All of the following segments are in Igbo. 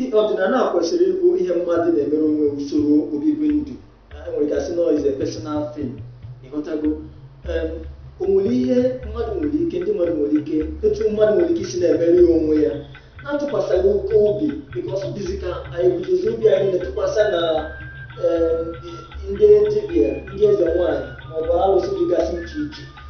I- ọdịnala a kwesịrị ịbụ ihe mmadụ na-emere onwe usoro obibi ndụ anyị nwere gasị nọ is a personal thing ị ghọtago Em, o nwere ihe mmadụ nwere ike ndị mmadụ nwere ike etu mmadụ nwere ike isi na-emere ya onwe ya na-atụkwasịghị oke obi because ọ dịzi ka anyị budozi obi anyị na-atụkwasị na em, ndị dibịa ndị eze nwaanyị maọbụ alụsị dịgasị iche iche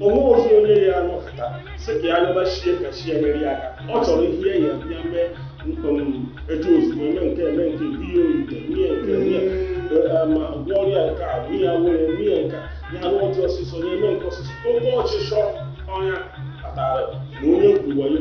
o nwerọzi onye ya-anọkata sị ka ya yọba chi ya ka chi ya nyere ya aka ọ chọrọ ihe ya ya mee etu ozugbo eme nke eme nke biye oyite mie nke mie ma gwọ ọrịa nke a bụ ya nwere mie nke ya anụ ọjị ọsịsọ ya eme nke ọsịsọ oke ọchịchọ ọ ya kpatara na onye kwuwayo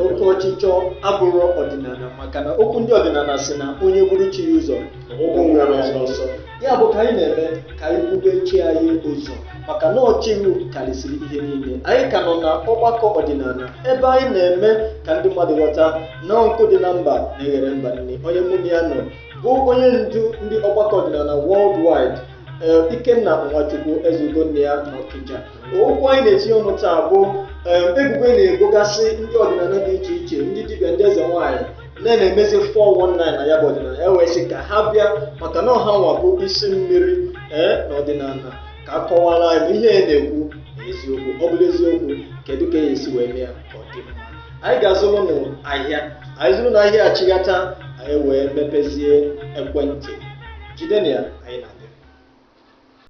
oke ọchịchọ abụrụ ọdịnala maka na okwu ndị ọdịnala si na onye buru chi ya ụzọ ọ gbagbuo onwe ya n'ọsọ ya bụ ka anyị na-eme ka anyị bube chi anyị ụzọ maka na ọ chukwu karịsịrị ihe niile anyị ka nọ na ọgbakọ ọdịnala ebe anyị na-eme ka ndị mmadụ ghọta na nkụ dị na mba na-eghere mba nni onye mụ na ya nọ bụ onye ndu ndị ọgbakọ ọdịnala worldwide ee ikenna nwachukwu ezeugo nne ya na ọkịja okwu anyị na-etinye ọnụ taa bụ ebubo a na-ebogasị ndị ọdịnala dị iche iche ndị dibịa ndị eze nwaanyị na-emezi 419 na ya bụ ọdịnala e wee sị ka ha bịa maka na ọ hanwa bụ isi mmiri ee na ọdịnala ka a kọwara anyị ihe a na-ekwu eziokwu ọ bụrụ eziokwu kedu ka a ya-esi wee mee ya ka ọ dị mma anyị ga-azụrụ n'ahịa anyị zụrụ n'ahịa achịghata anyị wee mepezie ekwentị jide na ya anyị na